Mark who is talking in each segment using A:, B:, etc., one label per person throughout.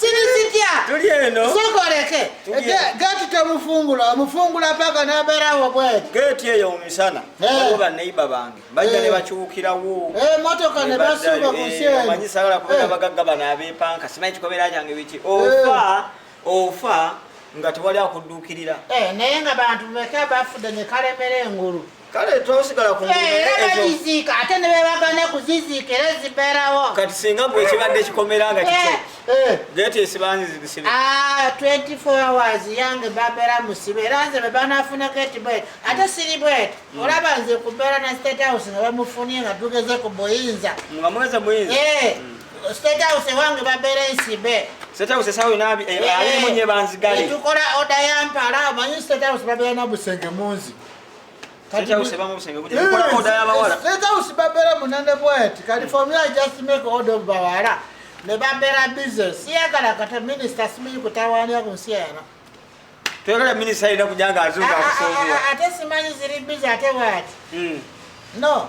A: siri zitya tuli eno
B: sokoleke
A: geti temufungula omufungula paka naberawo bwe geti eyo mumisana
B: waliwo baneiba bange bajja ne bakyukirawo emotoka ne
A: basuuba ku nsi eno manyi sagala kubeera bagagga
B: bano abepanka simanyi kikobeera kyange biki ofa ofa nga tewali akudduukirira naye nga bantu
A: meka bafudde ne kalemera engulu kale twasigala
B: ku ezoziika
A: ate ne bebagana kuziziika era zibeerawo kati singa gwe ekibadde
B: kikomera nga kikyo eh, eh. geeti esibanzizisibe 24 ah,
A: hours yange babeera musibe era nze bebanafuna geeti bwet ate siri bwet hmm. olaba nze kubeera na state house nga bamufunye nga tugeze ku buyinza nga mweze buyinza
B: eh, hmm. state
A: house ewange babeera ensibe State House esawo yona
B: eh, eh, alimu nye banzigale. Tukola oda ya
A: mpala, manyi State House babela na busenge munzi. State
B: House ebamu obusenge bujja kukola oda y'abawala. State House babeera
A: munene bweti kati for me I just make order of bawala ne babeera busy siyagala kata minisita simanyi kutawaanya ku nsi eno. Toyagala
B: minisita alina kujanga azuuka akusoobuwa. Ate simanyi ziri
A: busy ate bwati. Hmm. No.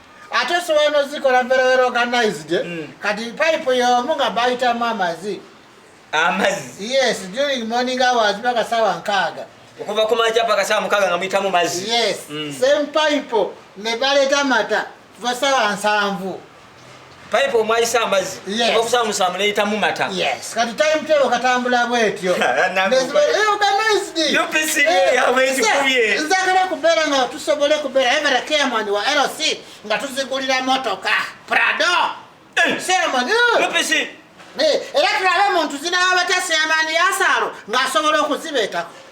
A: ate osobola nozikola very well organized mm. kati pipe yomu nga bayitamu amazi amazi yes during morning hours paka sawa nkaaga okuva ku makya
B: paka sawa mukaaga nga muyitamu mazi yes mm. same
A: pipe ne baleta mata kuva sawa nsanvu pipe
B: omwayisa amazzi okusa musamu neyita mu mata yes kati time
A: table katambula
B: bwetyo nzagala kubeera
A: nga tusobole kubeera evera kemani wa lc nga tuzigulira motoka prado eh. seremoni eh.
B: eh, era
A: tulabe omuntu zinawa batya semaani yasaalo ng'asobola okuzibeetako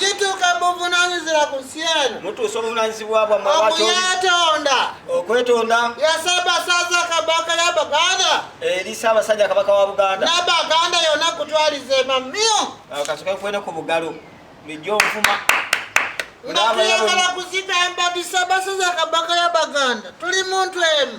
A: Situka buvunaanyizibwa ku nsi eno. Mutuusa obuvunaanyizibwa
B: bwammwe bw'atyo. Okuyeetonda.
A: Okwetonda.
B: Ya Ssaabasajja
A: Kabaka ya Buganda. Eri Ssaabasajja
B: Kabaka wa Buganda. Na Baganda yonna
A: kutwaliza emamyo. Kasuka kwene ku
B: bugalo. Lijja onfuma. Nga
A: tuyagala kuzita embadi Ssaabasajja Kabaka ya Baganda. Tuli muntu emu.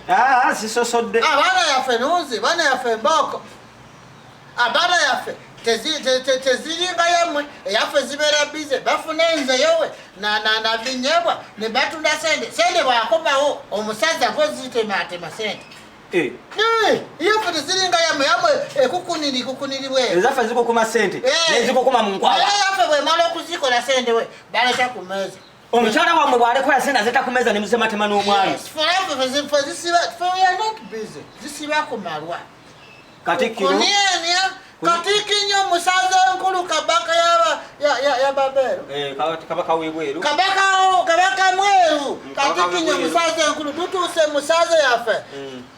A: Ah, zisosodde
B: abaana yaffe
A: nunzi baana yaffe mbooko abaana ah, yaffe teziringa yamwe eyaffe zibeera bize bafuna enzeyowe nabinyebwa nebatunda sente sente bwakomawo omusajja gozitematema sente eh. eh, yaffe teziringa yamwe yamwe ekukuniri kukuniribwezaffe zikukuma
B: sente eh. nezikukuma munkwayaffe bwemala
A: okuzikola sente we baleta ku meeza omukyala wamwe bwaleko
B: yasente azeta kumeza nemusematema n'omwami katikinyo
A: musaza enkulu kabaka yababeero eh, kabaka
B: webweru kabaka
A: mweru katikinyo musaza enkulu tutuuse musaza yaffe mm.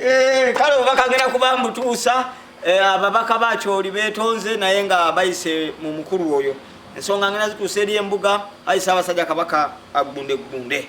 B: Eh, kale oba kagenda kuba mbutuusa eh, ababaka bakyoli betonze naye nga bayise mu mukulu oyo ensonga ngena zituusa eri embuga ayi saabasajja kabaka agunde gunde